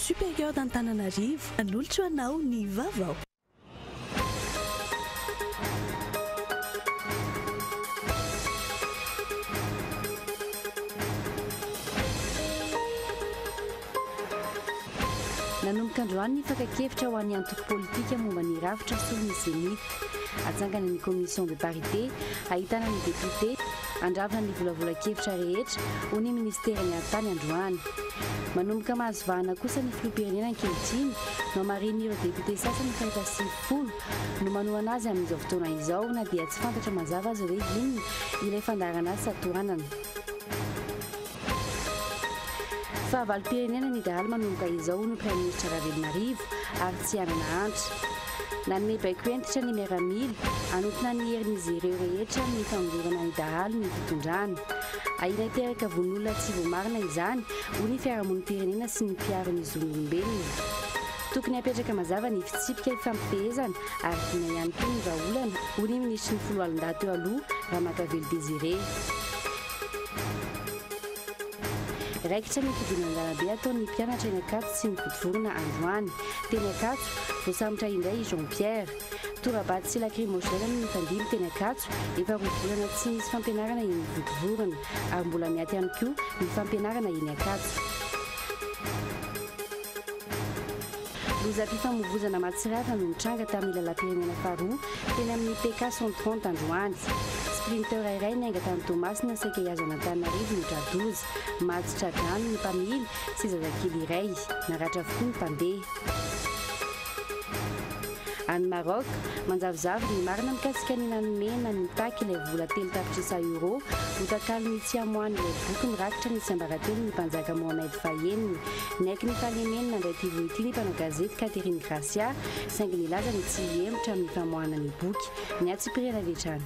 Supérieur d'Antananarivo, nanolotra ho anao ny vaovao. Nanomboka androany ny fakan-kevitra ho an'ny antoko politika momba ny rafitra solon'ny Zenith. Atsangana ny Commission de parité, ahitana ny depiote, Handravona ny volavolan-kevitra rehetra, hoy ny minisiteran'ny Haritany androany. Manomboka mahazo vahana kosa ny filoham-pirenena ankehitriny no hamarihin'ireo depiote sasany efa efa sivifolo no manohana azy amin'izao fotoana izao na dia tsy fantatra mazava aza hoe inona ilay fandaharanasa tohanana. Fahavalom-pirenena ny dahalo manomboka izao, hoy ny Praiminisitra Ravelonarivo, ary tsy hanana antra. Nanome baiko hentitra ny miaramila, hanontina ny herin'izy ireo rehetra amin'ny famongorana ny dahalo ny fitondrana. Ahiana hiteraka vono-olona tsy voamarina izany, hoy ny fiarahamonim-pirenena sy ny mpiaro ny zon'olombelona. Tokony hapetraka mazava ny fitsipika ifampifehezana ary vina ihany koa ny vahaolana, hoy ny Minisitry ny Foloalindahy teo aloha, Ramakavelo Désiré. Raikitra ny fidinana an-dalambe ataon'ny mpianatra eny Ankatso sy ny vodivorona androany. Teny Ankatso, voasambotra indray i Jean Pierre. Tora-bato sy lakrimozena no nifandimby teny Ankatso, efa roa volana tsy nisy fampianarana eny Vodivorona, ary mbola miaty ihany koa ny fampianarana eny Ankatso. Lozam-pifamoivoizana mahatsiravina no nitranga tamin'ny lalam-pirenena faharoa teny amin'ny PK Centre Pente androany. Sprinter iray niainga tany Toamasina saika hihazo an'Antananarivo no tra-doza. Maty tra-drano ny mpamily sy zazakely iray. Naratra avokoa ny mpandeha. Any Maroc, manjavozavo ny marina mikasika ny nanome na nitaky ilay vola telo tapitrisa Euro ho takalon'ny tsy hamoahan'ilay boky mirakitra ny tsiambaratelon'ny mpanjaka Mohamed fahenina. Niaiky ny fahalemeny nandray ity voa ity ny mpanao gazety Catherine Gracia, saingy nilaza ny tsy hihemotra amin'ny famoahana ny boky. Nihatsipirihana avy hatrany.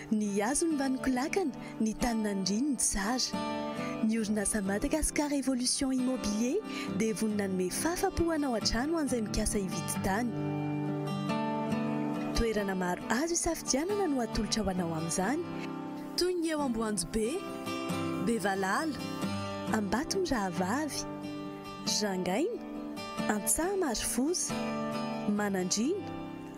Ny hazony mba nikolakana, ny tany nandriany nitsara. Ny orinasa Madagascar Evolution Immobilier dia vonona hanome fafa-po hanao an-trano ho an'izay mikasa hividy tany. Toerana maro azo isafidianana no atolotra ho anao amin'izany, toy ny eo Amboanjobe, Bevalala, Ambatomirahavavy, Rangaina, Antsaha Marofosa, Manandriana,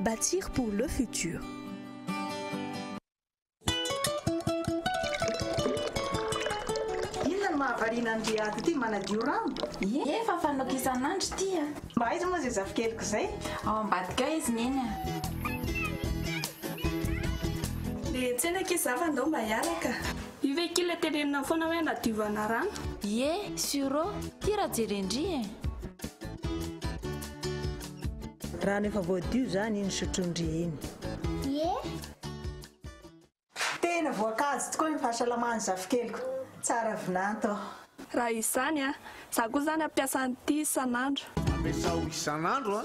Bâtir pour le futur. mahavariana an'i Riyad ity manadio rano? Ie, efa fanaoko isan'andro ity a. Mba aiza moa izay zafikeliko izay? Ao ambadika ao izy neny a. Dia tsena akia za fa ndao mba hiaraka. Io ve akia ilay teneninao foana hoe anadiovana rano? Ie, sûrô, tia raha jeren-dry e. Rano efa voadio zany iny sotrondry iny. Tena voankazo tokoa ny fahasalamana zafikeliko, tsara vinanto aho. Raha izany a! Za koa zany ampiasa an'ity isan'andro. Ampiasao isan'andro a!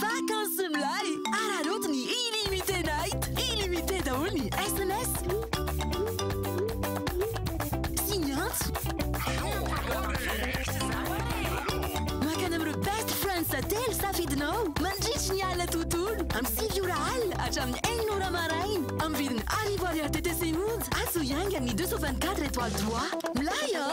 Vakansy milay! Araraoty ny Illimité Night! Illimité daholo ny sms sy ny antso. Mankany amin'ireo best friends telo safidinao mandritry ny alina tontolo, amin'ny sivy ora alina hatramin'ny enina ora maraina, amin'ny vidiny arivo ariary TTC monja, atsy ho iaingan'ny deux cent vingt quatre étoiles trois. Milay an!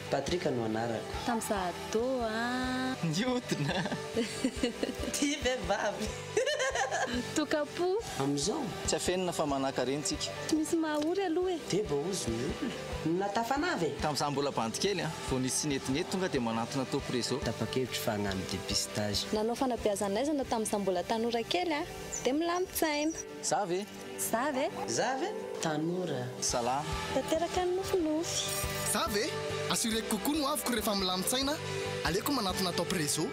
Patrick no anarako. Tam za ado a. Niodina ty vevavy. Tokapo. Amizao. Tsy afenina fa manakareny tsika. Tsy misy maha ory aloha e. Dia vao ozy ny olona. Na tafanava e. Tam za mbola bandy kely a. Vao nisy tsinetinety tonga dia manantona top reseau. Tapakevitry fa hagnano depistage. Nanao fanabeazan'aizana tam za mbola tanora kely a. Dia milamin-tsaina. Za ve? Za ve? Za ve? Tanora. Salama. Tanteraka ny nofinofy. Za ve? Assureko kokoa ny hoaviko rehefa milamin-tsaina aleoko manatona top réseau.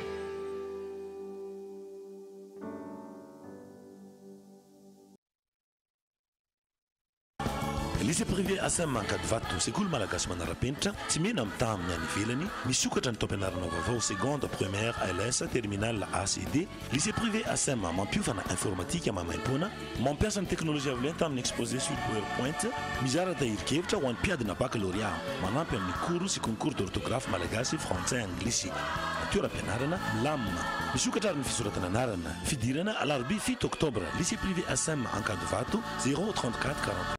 Lycée privé ASM Ankadivato, sekoly malagasy manara-penitra, tsy mena mitaha amin'ny any ivelany, misokatra ny taom-pianarana vaovao seconde, première, ls, terminale, AC, D, Lycée privé Asem mampiofana informatika maimaimpoana, mampiasa ny teknolojia avy lenta amin'ny exposé sur powerpoint, mizara tahirin-kevitra ho an'ny mpiadina bakalorea, manampy amin'ny cours sy concours d'orthographe malagasy, frantsay, anglisy. Toeram-pianarana, milamina. Misokatra ary ny fisoratana anarana. Fidirana, alarobia fito oktobra, lycée privé Asem Ankadivato, zéro trente-quatre quarante-trois.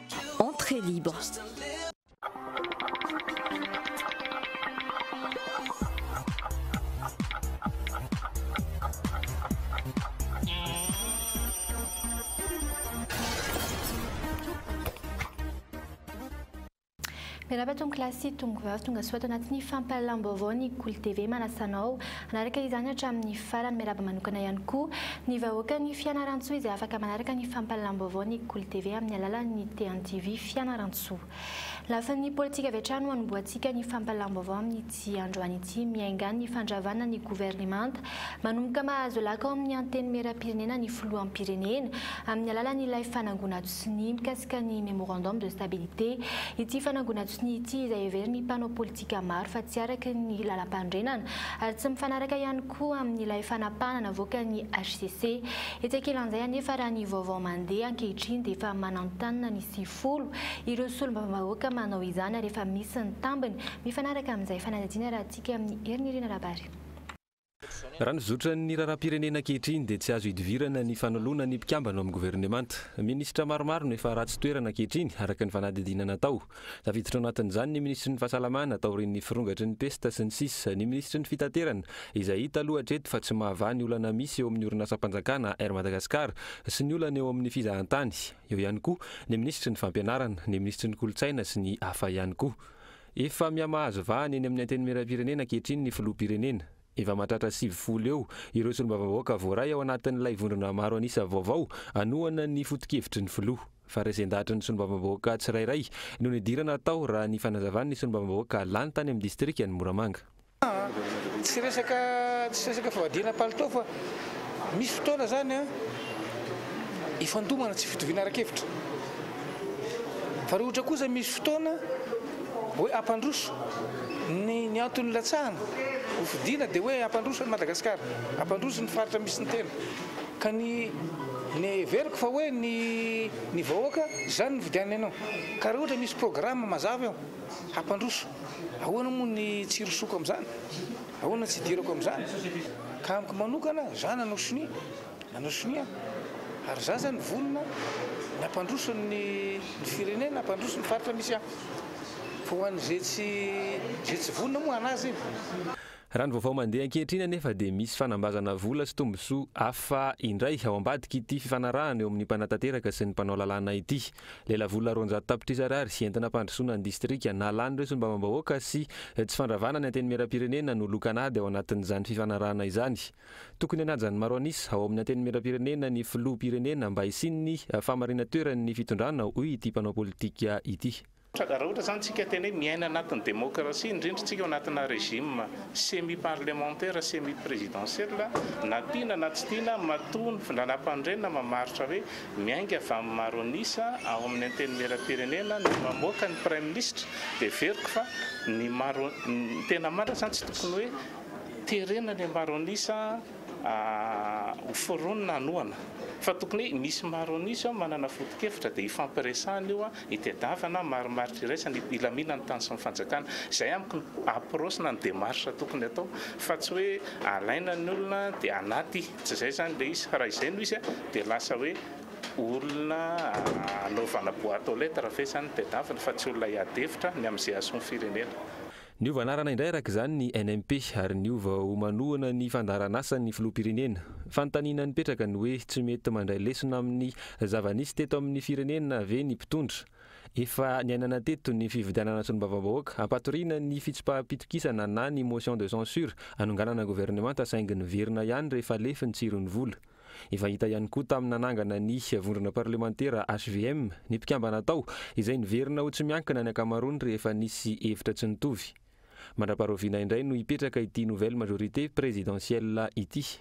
Entrée libre. Miarahaba Tompo Class sy Tompo Vavy tongasoa ato anatin'ny fampahalalam-baovao ny Kolo TV manasa anao hanaraka izany hatramin'ny farany miarahaba manokana ihany koa ny vahoakan'i Fianarantsoa izay afaka manaraka ny fampahalalam-baovao ny Kolo TV amin'ny alalan'ny TNTV Fianarantsoa Lafiny politika avy hatrany no anombohantsika ny fampahalalam-baovao amin'ity androany ity miainga ny fandravana ny governemanta manomboka mahazo laka ao amin'ny Antenimierampirenena ny Filoham-pirenena amin'ny alalan'ilay fanangonad sy ny mikasika ny Memorandum de stabilité, ity fanangonan-tsonia ity izay heverin'ny mpanao politika maro fa tsy araka ny lalampanorenana ary tsy mifanaraka ihany koa amin'ilay fanapahana navoakan'ny hcc. Etsy ankilan'izay anefa raha ny vaovao mandeha ankehitriny dia efa mananontanona ny sivifolo ireo solombavambahoaka manao izany ary efa misy ny tambiny mifanaraka amin'izay fanadihadiana raha tsiky amin'ny Herinerena Rabary. Raha ny zotran'ny raharaham-pirenena ankehitriny dia tsy azo idivirana ny fanoloana ny mpikambana ao amin'ny governemanta. Minisitra maromaro no efa ratsy toerana ankehitriny araka ny fanadihadiana natao. Tafiditra ao anatin'izany ny minisitry ny Fahasalamana taorian'ny firongatry ny pesta sy ny sisa Ny minisitry ny Fitaterana izay hita aloha hatreto fa tsy mahavaha ny olana misy eo amin'ny orinasam-panjakana Air Madagascar sy ny olana eo amin'ny fizahantany. Eo ihany koa ny minisitry ny Fampianarana, ny minisitry ny Kolontsaina sy ny hafa ihany koa. Efa miha-mahazo vahana eny amin'ny Antenimierampirenena ankehitriny ny Filoham-pirenena. Efa mahatratra sivifolo eo ireo solombavambahoaka voaray ao anatin'ilay vondrona maro an'isa vaovao hanohana ny foto-kevitry ny Filoha. Fa resen-dahatry ny solombavambahoaka tsirairay no nidirana tao raha ny fanazavan'ny solombavambahoaka lany tany amin'ny distrikan'i Moramanga. Aa! Tsy resaka tsy resaka fivadiana palitao fa misy fotoana zany an ifandomana tsy fitoviana ara-kevitra. Fa raha ohatra kosa misy fotoana hoe hampandroso ny ny antony nilatsahana ho fidiana dia hoe hampandroso an'i Madagasikara, hampandroso ny faritra misy ny tena. Ka ny ny heveriko fa hoe ny ny vahoaka izany no nividianany anao. Ka raha ohatra misy programa mazava eo hampandroso. Ahoana moa ny tsy irosoako amin'izany? Ahoana ny tsy idirako amin'izany? Ka amiko manokana, izaho nanao sonia, nanao sonia aho, ary izaho izany vonona ny hampandroso ny firenena, hampandroso ny faritra misy ahy. Fa ho an'izay tsy, izay tsy vonona moa hanaja iny. Raha ny vaovao mandeha ankehitriny anefa dia misy fanambazana vola sy tombontsoa hafa indray ao ambadik'ity fifanarahana eo amin'ny mpanatanteraka sy ny mpanao lalàna ity. Lelavola roanjato tapitrisa Ariary entina hampandrosoana ny distrika. Nalana ireo solombavambahoaka sy tsy fandravana ny Antenimierampirenena no lokan'ady ao anatin'izany fifanarahana izany. Tokony hanaja ny maro an'isa ao amin'ny Antenimierampirenena ny Filoham-pirenena mba hisian'ny fahamarinan-toerany ny fitondrana, hoy ity mpanao politika ity. Raha ohatra izany isika hiteny hoe miaina anatin'ny demokrasia, indrindra isika ao anatina régime semi parlementaire, semi présidentiel, na tiana na tsy tiana matoa ny findranam-panorenana mamaritra hoe Miainga avy amin'ny maro an'isa ao amin'ny Antenimierampirenena no mamoaka ny Praiminisitra dia heveriko fa ny maro ny tena marina izany tsy tokony hoe terena ilay maro an'isa ho foronina hanohana fa tokony hoe misy maro an'isa ao manana foto-kevitra dia hifampiresahana io hitadiavana ny marimaritra iraisana hilaminan'ny tany sy ny fanjakana. Izay amiko ny approche na ny démarche tokony atao fa tsy hoe alaina ny olona dia anaty Tsy izay izany ilay izy fa raha izay no izy dia lasa hoe olona hanaovana boite aux lettres ve izany ny tadiaviny fa tsy olona hiady hevitra ny amin'izay hahasoa ny firenena. Niova anarana indray araka izany ny NMP ary niova ho manohana ny fandaharanasan'ny filoham-pirenena. Fanontaniana nipetraka ny hoe tsy mety mandray lesona amin'ny zava-nisy teto amin'ny firenena ve ny mpitondra? Efa niainana teto ny fividianana solombavambahoaka hampatoriana ny fitsipaham-pitokisana na ny motion de censure hanonganana governemanta saingy niverina ihany rehefa lefy ny tsiron'ny vola. Efa hita ihany koa tamin'ny nanangana ny vondrona parlemantera hvm ny mpikambana tao izay niverina ho tsy miankina ny ankamaroany rehefa nisy hevitra tsy nitovy. Mandra-paharoviana indray no hipetraka ity nouvelle majorité présidentielle ity.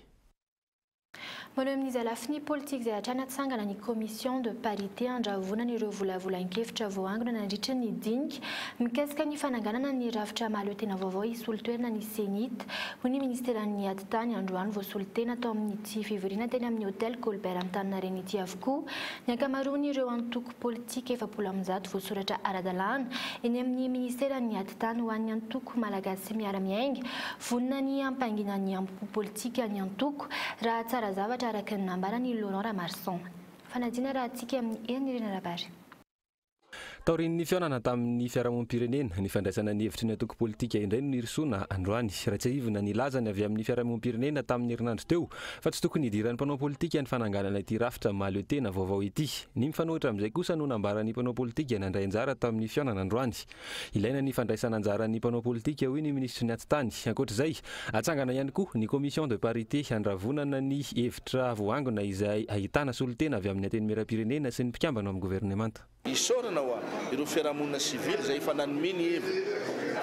Maneho amin'izay lafiny politika izay hatrany hatsangana ny Commission de parité handravonana ireo volavolan-kevitra voaangona nandritra ny dinika mikasika ny fananganana ny rafitra mahaleo tena vaovao hisolo toerana ny CENI-T, hoy ny Ministeran'ny Ady tany androany. Voasolo tena tao amin'ity fivoriana teny amin'ny Hotel Colbert Antaninarenina ity avokoa ny ankamaroan'ireo antoko. politika efapolo amby zato voasoratra ara-dalàna eny amin'ny Ministeran'ny Atitany ho an'ny antoko Malagasy miara-miainga. Vonona ny hampangina ny ambo-po politika ny antoko, raha tsara zavatra araka ny nambaran' i Laurent Ramarson. Fanadina raha tsiky amin'ny hery Nirina Rabary. Taorian'ny fihaonana tamin'ny fiarahamonim-pirenena, ny fandraisana ny hevitry ny antoko politika indray no nirosoana androany. Raha tsiahivina ny lazany avy amin'ny fiarahamonim-pirenena tamin'ny herinandro teo, Fa tsy tokony hidiran'ny mpanao politika ny fananganana ity rafitra mahaleotena vaovao ity. Ny mifanohitra amin'izay kosa no nambaran'ny mpanao politika nandray anjara tamin'ny fihaonana androany. Ilaina ny fandraisana anjaran'ny mpanao politika, hoy ny minisitry ny Atitany. Ankoatra izay, hatsangana ihany koa ny commission de parité handravonana ny hevitra voaangona izay ahitana solontena avy amin'ny Antenimierampirenena sy ny mpikambana ao amin'ny governemanta. Isaorana hoa ireo fiarahamonina sivily izay efa nanome ny heviny.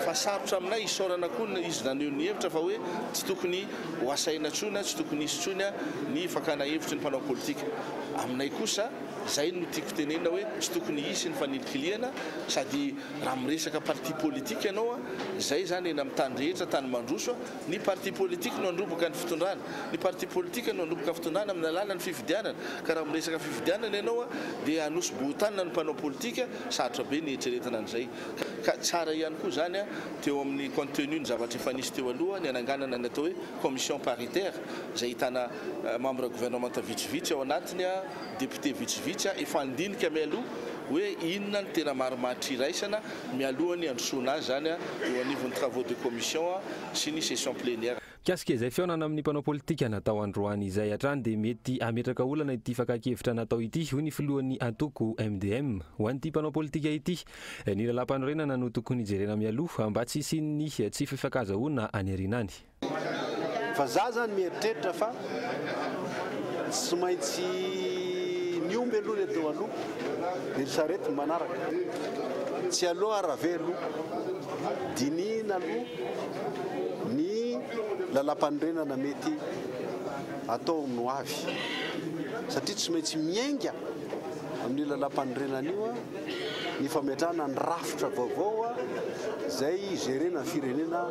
Fa sarotra aminay isaorana koa ny izy naneho ny hevitra fa hoe tsy tokony ho asaina intsony na tsy tokony hisy intsony ny fakana hevitry ny mpanao politika. Aminay kosa izay no tiako tenenina hoe tsy tokony hisy ny fanilikilihana sady raha miresaka parti politique ianao izay izany eny amin'ny tany rehetra tany mandroso Ny parti politique no handroboka ny fitondrana. Ny parti politique no handroboka fitondrana amin'ny alalan'ny fifidianana. Ka raha miresaka fifidianana ianao dia hanosi-bohotanina ny mpanao politika, sarotra be ny hieritreretana an'izay. Ka tsara ihany koa izany teo amin'ny contenu ny zavatra efa nisy teo aloha, ny hananganana ny atao hoe commission paritaire izay ahitana membre gouvernementa vitsivitsy ao anatiny, députés vitsivitsy, efa handinika mialoha hoe inona no tena marimaritra iraisana. mialoha ny handrosoana azy izany eo anivon'ny travaux de commission sy ny session plénière. Mikasika izay fihaonana amin'ny mpanao politika natao androany izay hatrany dia mety hametraka olana ity fakan-kevitra natao ity, hoy ny filohan'ny antoko MDM. Ho an'ity mpanao politika ity, ny lalàmpanorenana no tokony jerena mialoha mba tsy hisian'ny tsy fifankazahoana any aoriana any. Fa za zany mieritreritra fa tsy maintsy ny omby aloha le teo aloha de ry sarety ny manaraka. Tsy aleo ara ve aloha dinihina aloha ny lalampanorenana mety atao ny ho avy satria tsy maintsy miainga amin'io lalampanorenana io an. ny fametrahana ny rafitra vaovao izay hi-gérer-na ny firenena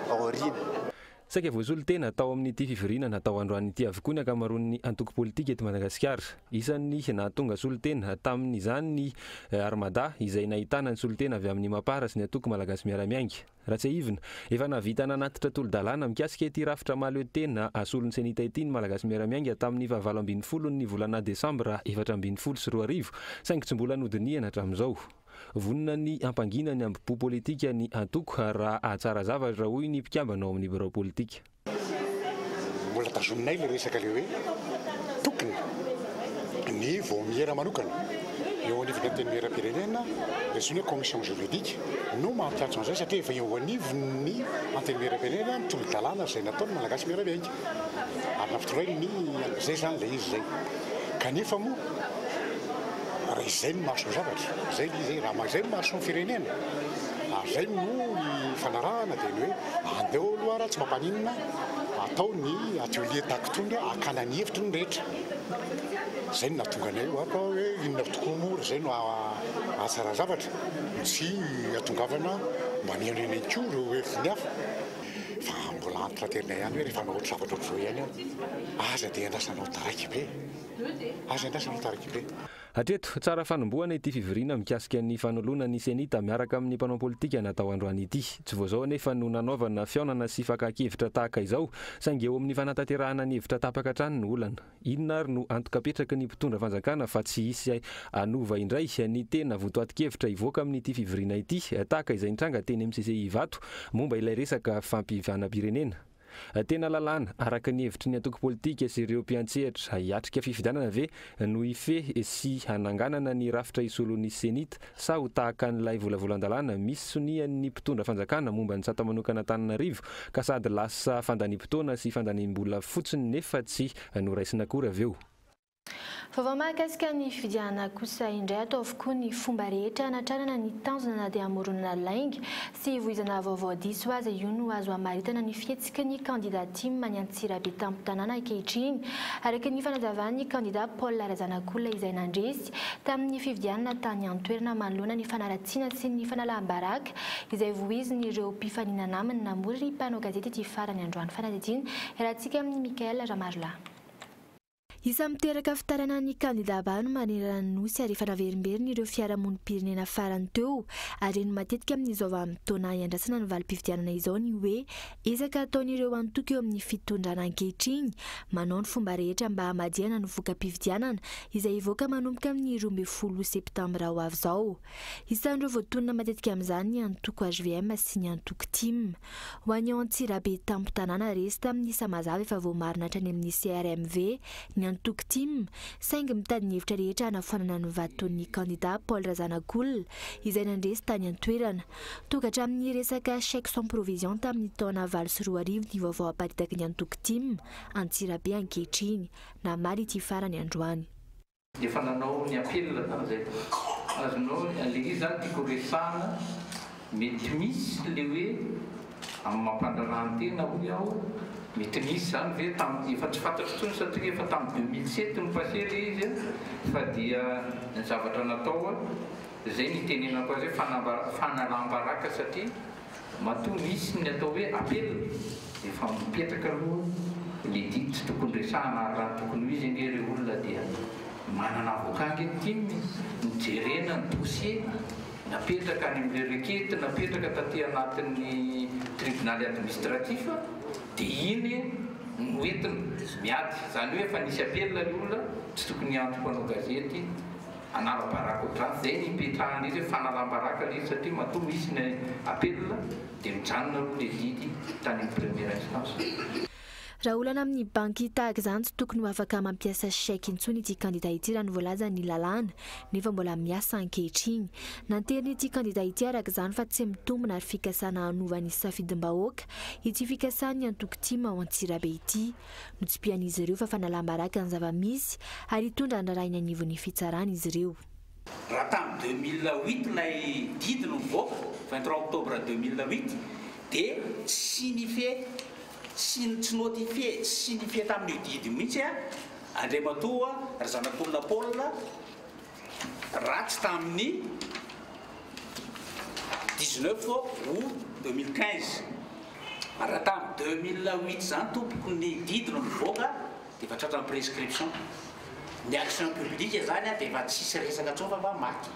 ao aoriana. Saika voasolo tena tao amin'ity fivoriana natao androany ity avokoa ny ankamaroan'ny antoko politika eto Madagasikara. Isan'ny nahatonga solontena tamin'izany ny Armada izay nahitana ny solontena avy amin'ny Mapar sy ny Antoko Malagasy Miara-Miainga. Ratsiahivina, efa nahavita nanatitra tolo-dalàna mikasika ity rafitra mahaleo tena asolon'ny Cenita ity ny Malagasy miara-miainga tamin'ny fahavalo ambin'ny folon'ny volana desambra efatra ambin'ny folo sy roa arivo, saingy tsy mbola nodinihana hatramin'izao. Vonona ny hampangina ny ambopo politika ny antoko raha hahatsara zavatra, hoy ny mpikambana ao amin'ny birao politika. Mbola tazominay ilay resaka ilay hoe tokony ny vaomiera manokana eo anivon'ny Antenimierampirenena, ilay zony hoe commission juridique, no mampiantso an'izay satria efa eo anivon'ny Antenimierampirenena ny tolo-dalàna izay nataon'ny Malagasy Miara-miainga ary nampitorainy an'izay izany ilay izy izay. Kanefa moa raha izay no mahasoa zavatra, izay ilay izy e, raha izay no mahasoa ny firenena, ary izay no ifanarahana dia ny hoe Aleo aloha raha tsy mampaninona atao ny atelier tahaka itony dia hakana ny hevitry ny rehetra. Izay no nahatonga anay io. Fa hoe inona tokoa moa raha izay no hahatsara zavatra? Tsy hatongavana mba mihaino eny ihany koa ireo heviny hafa. Fa mbola entratenay ihany hoe rehefa hanao ohatra zavatra ohatr'izao ihany aho, aza dia andrasanao taraiky be e! Aza andrasanao taraiky be. Hatreto, tsara fanombohana ity fivoriana mikasika ny fanoloana ny Cenita miaraka amin'ny mpanao politika natao androany ity. Tsy vao izao anefa no nanaovana fihaonana sy fakan-kevitra tahaka izao, saingy eo amin'ny fanatanterahana ny hevitra tapaka hatrany no olana. Inona ary no antoka apetraky ny mpitondra fanjakana fa tsy hisy hanova indray ny tena votoatin-kevitra hivoaka amin'ity fivoriana ity, tahaka izay nitranga teny amin'ny CCI Ivato momba ilay resaka fampihavanam-pirenena? Tena lalàna, araka ny hevitry ny antoko politika sy ireo mpiantsehatra, hiatrika fifidianana ve no hifehy sy hananganana ny rafitra hisolo ny CENI-T sa ho tahaka an'ilay volavolan-dalàna misy sonian'ny mpitondra fanjakana momba ny sata manokan'Antananarivo ka sady lasa fandaniam-potoana sy fandaniam-bola fotsiny nefa tsy noraisina akory avy eo? Vaovao mahakasika ny fifidianana kosa indray atao avokoa ny fomba rehetra hanatrarana ny tanjona na dia hamoronana lainga sy hivoizana vaovao diso aza io no azo hamaritana ny fihetsiky ny kandida tim any Antsirabe tampon-tanàna ankehitriny araka ny fanazavan'ny kandida Paul Razanakolona izay nandresy tamin'ny fifidianana tany an-toerana manoloana ny fanaratsiana sy ny fanalam-baraka izay voizin'ireo mpifaninana aminy namory ny mpanao gazety ity farany androany fanadidina iarahantsika amin'i Michael Ramarolahy. Isan'ny miteraka fitarainana ny kandidà bano manerana ny Nosy ary efa naverimberiny ireo fiarahamonim-pirenena farany teo. Harena matetika amin'izao vanim-potoana hiandrasana ny valim-pifidianana izao ny hoe ezaka ataon'ireo antoko eo amin'ny fitondrana ankehitriny manao ny fomba rehetra mba hamadihana ny voka-pifidianana izay hivoaka manomboka amin'ny roa ambin'ny folo septambra ho avy izao. Isan'ireo voatonona matetika amin'izany ny antoko hvm sy ny antoko tim. Ho an'i Antsirabe tampon-tanàna resy tamin'ny saha mazava efa voamarina hatrany amin'ny CRMV ny antoko tim, saingy mitady ny hevitra rehetra hanafoanana ny vaton'ny kandidà Paul Razanakolona izay nandresy tany an-toerana. Tonga hatramin'ny resaka chèque sans provision tamin'ny taona valo sy roa arivo ny vaovao aparitaky ny antoko tim Antsirabe ankehitriny, namaly ity farany androany. Efa nanao ny appel zany zay. Azonao le izy zany tiako resahana mety misy le hoe amin'ny maha mpandraharahan-tena hoy aho mety nisy zany ve tamin'ny efa tsy fantatro intsony satria efa tamin'ny deux mille sept no passé le izy fa dia ny zavatra natao zay ny itenenako azy hoe fanambara- fanalam-baraka satria Matoa misy ny atao hoe apel dia efa mipetraka aloha le didy tsy tokony resahana ary raha tokony ho izy ange ireo olona dia manana avocat ange ny tim e, ny jerena ny dossier napetraka any amin'ireo requete napetraka taty anatin'ny tribonaly administratif dia iny no entina miady izany hoe efa nisy apel le olona tsy tokony hiantso mpanao gazety hanala-baraka ohatr'izany, izay no ipetrahan'izy hoe fanalam-baraka ilay izy satria matoa misy ny appel dia mijanona aloha ilay zidy tany amin'ny première instance. Raha olana amin'ny banky tahaka izany tsy tokony ho afaka mampiasa chèque intsony ity kandida ity raha ny voalazan'ny lalàna nefa mbola miasa ankehitriny. Nanterin'ity kandida ity araka izany fa tsy mitombina ary fikasana hanova ny safidim-bahoaka ity fikasan'ny antoko tim ao Antsirabe ity. Notsipihan'izy ireo fa fanalam-baraka ny zava-misy ary hitondra an-draharaha eny anivon'ny fitsarana izy ireo. Raha tamin'ny deux mille huit ilay didy no nivoaka, vingt trois octobre deux mille huit, dia tsy signifié, tsy tsy notifié, tsy signifié tamin'io didy io mihitsy an, Andriamatoa Razanakolona Paul, ratsy tamin'ny dix neuf aout deux mille quinze raha tamin'ny deux mille huit zany tompoko ny didy no nivoaka dia efa tratran'ny prescription ny action publique zany dia efa tsisy resaka tsony fa maty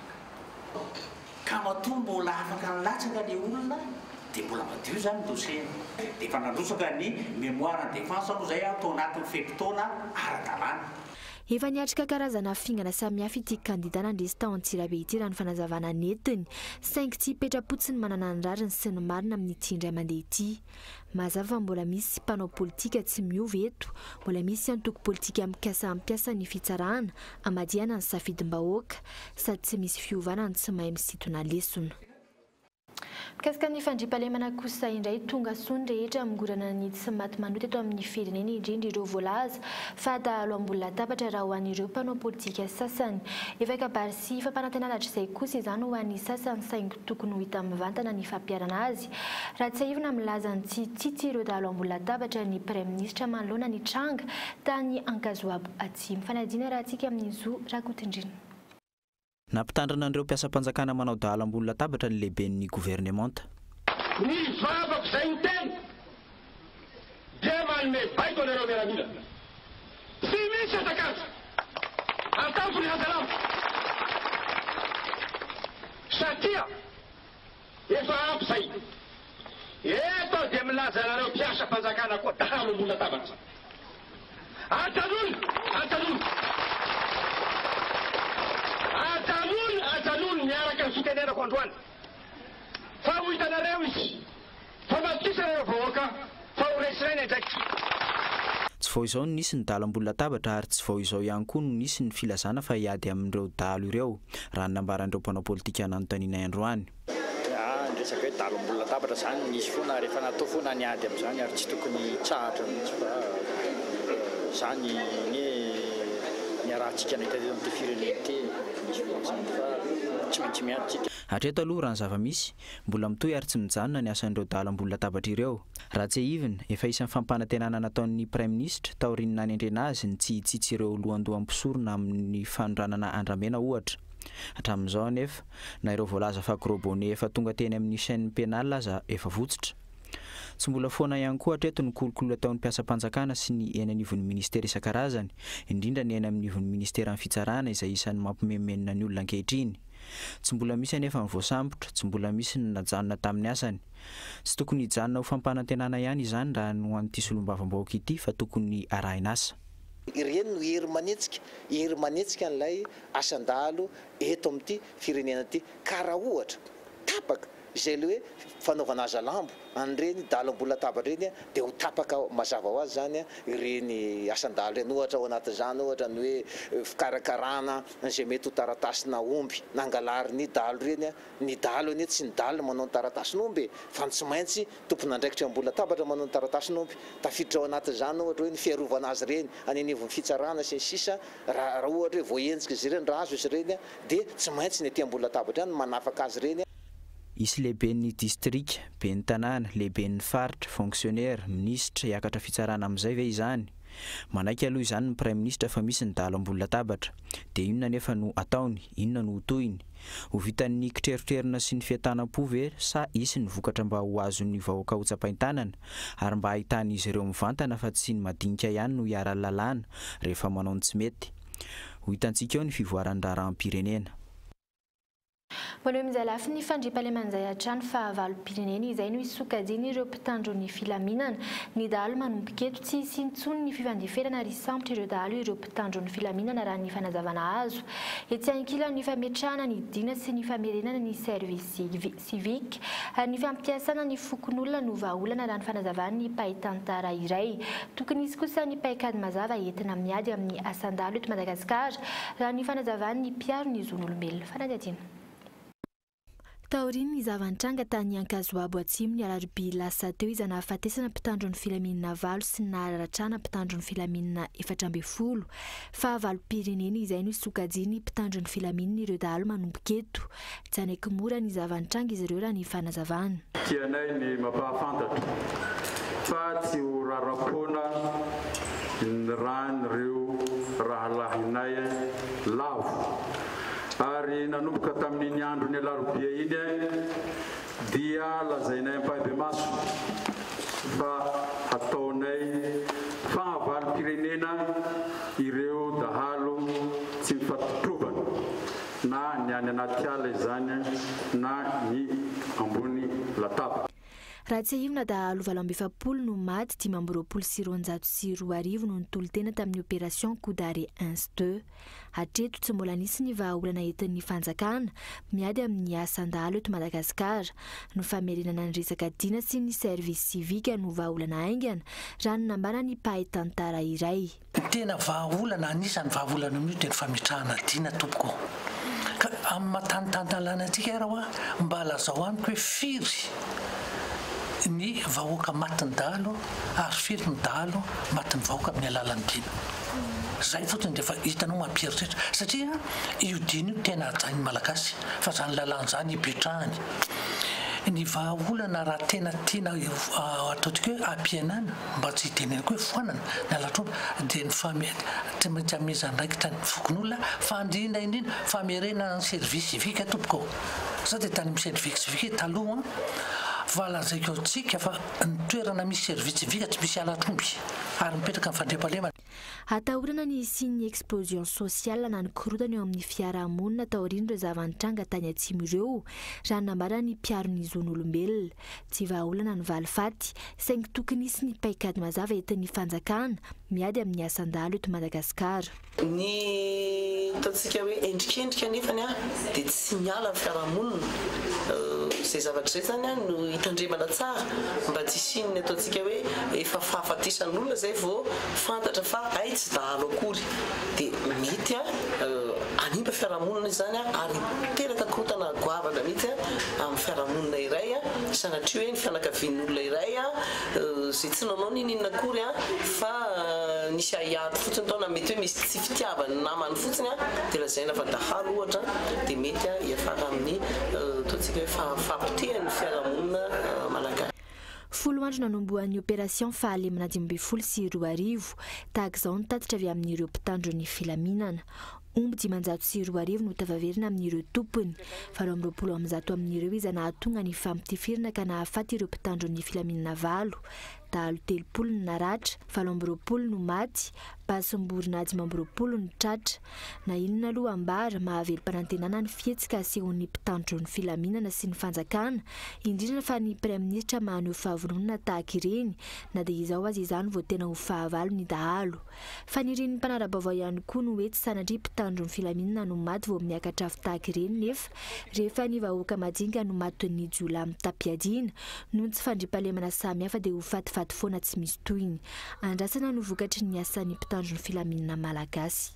ka matoa mbola afaka nilatsaka le olona dia mbola madio zany dossier dia efa nandrotsaka ny mémoire en défense moa zay aho tao anatin'ny fe-potoana ara-dalàna. Efa niatrika karazana fingana samihafa ity kandida nandresy tao Antsirabe ity raha ny fanazavana nentiny, saingy tsy hipetra-potsiny manana ny rariny sy ny marina amin'ity indray mandeha ity. Mazava fa mbola misy mpanao politika tsy miova eto, mbola misy antoko politika mikasa hampiasa ny fitsarana hamadihana ny safidim-bahoaka, sady tsy misy fiovana ny tsy mahay misintona lesona. Mikasika ny fandriampahalemana kosa indray, tonga soa ny rehetra hamongorana ny tsy maty manohy teto amin'ny firenena indrindra ireo voalaza fa dahalo ambony latabatra raha ho an'ireo mpanao politika sasany. Efa kabary sy fampanantenana hatrizay kosa izany ho an'ny sasany saingy tokony ho hita mivantana ny fampiharana azy raha tsiahivina milaza ny tsy tsitsy ireo dahalo ambony latabatra ny praiminisitra manoloana ny tranga tany Ankazoabo Atsimo. Fanadihana raha antsika amin'i Zo Rakotondrina. Nampitandrina an'ireo mpiasam-panjakana manao dahalo ambony latabatra ny lehiben'ny governemanta. Ny vavako izay miteny dia manome baiko anareo miaramila. Tsy misy hazakazaka ataoko ry hajalamba satria. Efa ampy izay. Eto aho dia milaza anareo mpiasam-panjakana koa, dahalo ambony latabatra. Ajanony! Ajanony! Ajanony! Ajanony! Miaraka ny fitenenako androany. Fa ho hitanareo izy. Famadihizana ireo vahoaka fa ho resy rainy andraikitra. Tsy vao izao no nisy ny dala ambony latabatra ary tsy vao izao ihany koa no nisy ny filazana fa hiady amin'ireo dahalo ireo, raha ny nambaran'ireo mpanao politika nanontanianay androany. Dia ny resaka hoe dala ambony latabatra izany nisy foana rehefa natao foana ny ady amin'izany ary tsy tokony hitsahatra mihitsy fa izany anie niarahantsika nahita teto amin'ity firenena ity, nisy foana izany fa tsy maintsy miady isika. Hatreto aloha raha ny zava-misy, Mbola mitohy ary tsy mijanona ny asan'ireo dahalo ambony latabatra ireo. Raha tsiahivina, efa isan'ny fampanantenana nataon'ny Praiminisitra, taorian'ny nanendrena azy, ny tsy hitsitsy ireo lohandoha mpisorona amin'ny fanondranana andramena, ohatra. Hatramin'izao anefa, na ireo voalaza fa gros bonnet efa tonga teny amin'ny chaine pénale aza efa votsotra. Tsy mbola foana ihany koa hatreto ny kolikoly ataon'ny mpiasam-panjakana sy ny eny anivon'ny Ministera isan-karazany, indrindra ny eny amin'ivon'ny Ministeran'ny Fitsarana izay isan'ny mampimenomenona ny olona ankehitriny. Tsy mbola misy anefa ny voasambotra, tsy mbola misy ny najanona tamin'ny asany. Tsy tokony hijanona ho fampanantenana ihany izany raha ny ho an'ity solombavambahoaka ity fa tokony arahin'asa. Ireny no hery manetsika, hery manetsika an'ilay asan-dahalo eto amin'ity firenena ity ka raha ohatra tapaka Izay le hoe fanaovana hazalambo an'ireny dahalo ambony latabatra ireny dia ho tapaka mazava ho azy izany ireny asan-dahalo ireny. Ohatra ao anatin'izany ohatra ny hoe fikarakarana izay mety ho taratasinà omby nangalarin'ny dahalo ireny. Ny dahalo anie tsy ny dahalo no manao ny taratasin'omby e! Fa ny tsy maintsy tompon'andraikitra eo ambony latabatra manao ny taratasin'omby. Tafiditra ao anatin'izany ohatra hoe ny fiarovana azy ireny any anivon'ny fitsarana sy ny sisa raha ohatra hoe voahenjika izy ireny, raha azo izy ireny. dia tsy maintsy ny aty ambony latabatra ihany no manafaka azy ireny. Hisy lehiben'ny distrika, ben'ny tanàna, lehiben'ny faritra, fonksionera, minisitra hiakatra fitsarana amin'izay ve izany? Manaiky aloha izany ny praiminisitra fa misy ny dahalo ambony latabatra. Dia inona anefa no ataony? Inona no ho tohiny? Ho vitan'ny kitrerotrerona sy ny fientanam-po ve sa hisy ny vokatra mba ho azon'ny vahoaka hotsapain-tanana ary mba hahitan'izy ireo mivantana fa tsy ny madinika ihany no iharan'ny lalàna rehefa manao ny tsy mety? Ho hitantsika eo ny fivoaran'ny raharaham-pirenena. Ho an'ireo mijale afin' ny fandriampahalemana izay hatrany fahavalom-pirenena izay no hisokajian' ireo mpitandro ny filaminana. Ny dahalo manomboka eto tsy hisy intsony ny fifandeferana ary hisambotra ireo dahalo ireo mpitandro ny filaminana raha ny fanazavana azo etsy ankilan' ny fametrahana ny dina sy ny famerenana ny servisy Civique, ny fampiasana ny fokonolona no vahaolana raha ny fanazavan'ny mpahay tantara iray. Tokony hisy kosa ny paikady mazava entina miady amin'ny asan-dahalo eto Madagasikara, raha ny fanazavan'ny mpiaro ny zon'olombelona. Fanadihadiana. Taorian'ny zava-nitranga tany Ankazoabo Atsimo ny alarobia lasa teo izay nahafatesana mpitandro ny filaminana valo sy ny nahararatrana mpitandro ny filaminana efatra ambin'ny folo, fahavalom-pirenena izay no sokajian'ny mpitandro ny filaminana ireo dahalo manomboka eto. Janaiky mora ny zava-nitranga izy ireo raha ny fanazavana. Tianay ny mampahafantatra fa tsy ho rara-poana ny ràn'ireo rahalahinay lavo ary nanomboka tamin'iny andron'ny alarobia iny dia lazainay ampahibemaso fa hataonay fahavalom-pirenena ireo dahalo tsy mifampitrovana. na ny any anaty ala izany na ny ambony latabatra. Raha tsiahivina, dahalo valo amby efapolo no maty, dimy amby roapolo sy roanjato sy roa arivo no nitolo-tena tamin'ny opération coup d'arrêt ins deux. Hatreto, tsy mbola nisy ny vahaolana entin'ny fanjakana miady amin'ny asan-dahalo eto Madagasikara. Ny famerenana ny resaka Dina sy ny service civique no vahaolana haingana, raha ny nambaran'ny mpahay tantara iray. Ny tena vahaolana, anisan'ny vahaolana amin'io dia ny fametrahana adina tompoko ô! Ka amin'ny maha tanintanitanlana antsika ary hoa mba lazao amiko hoe firy ny vahoaka matin'ny dahalo ary firy ny dahalo matin'ny vahoaka amin'ny alalan'ny dina? Izay fotsiny dia efa hitanao mampieritreritra satria io dina io tena hajain'ny malagasy fa izany lalàna izany hipetrahany. Ny vahaolana raha tena tiana ataontsika hoe hampihenana mba tsy hitenenako hoe foanana ny halatr'omby, dia ny famehana, tsy maintsy hanomeza andraikitra ny fokonolona fa indrindra indrindra famerenana ny service civique tompoko ô! za dia tany amin'ny service civique taloha an! fa lazaiko antsika fa ny toerana misy service civique tsy misy halatr'omby ary mipetraka ny fandriampahalemana, Atahorana ny hisian'ny explosion sociale na ny korontana eo amin'ny fiarahamonina taorian'ireo zava-nitranga tany Atsimo ireo, raha nambaran'ny mpiaro ny zon'olombelona. Tsy vahaolana ny valifaty, saingy tokony hisy ny paikady mazava entin'ny fanjakana miady amin'ny asan-dahalo eto Madagasikara. Ny ataontsika hoe endrikendrika anefany dia tsy. tsy miala ny fiarahamonina, izay zavatra izay izany no hitandremana tsara mba tsy hisian'ny ataontsika hoe efa fahafatesan'olona izay vao fantatra fa hay tsy dahalo akory dia mety hanimba fiarahamonina izany ary hiteraka korontana goavana mihitsy amin'ny fiarahamonina iray sanatria hoe ny fianakavian'olona iray izay tsy nanao n'inon'inona akory fa nisy ahiahy ato fotsiny tao na mety hoe misy Tsy fitiavany namany fotsiny dia lazaina fa dahalo ohatra dia mety hiafara amin'ny ataontsika hoe fahafaham-potehan'ny fiarahamonina malagasy. Folo andro nanombohan'ny opération fahalemana dimy ambin'ny folo sy roa arivo. Tahaka izao ny tatitra avy amin'ireo mpitandro ny filaminana. Omby dimanjato sy roa arivo no tafaverina amin'ireo tompony. Valo amby roapolo amin'ny zato amin'ireo iza nahatonga ny famptifirina ka nahafaty ireo mpitandro ny filaminana valo. Dahalo telopolo no naratra, valo amby roapolo no maty, Basim-borona dimy amby roapolo no tratra. Na inona aloha ambara, mahavelom-panantenana ny fihetsika asehon'ny mpitandro ny filaminana sy ny fanjakana, indrindra fa ny Praiminisitra maneho fahavononana tahaka ireny, na dia izao aza izany vao tena ho fahavalo ny dahalo. Fanirian'ny mpanara-baovao ihany koa ny hoe tsy sanatria mpitandro ny filaminana no maty vao miakatra afo tahaka ireny nefa rehefa ny vahoaka madinika no matin'ny jiolahy mitam-piadiana noho ny tsy fandriampahalemana samihafa dia ho fatifaty foana tsy misy tohiny. andrasana no vokatry ny asan'ny mpitandro ny filaminana malagasy.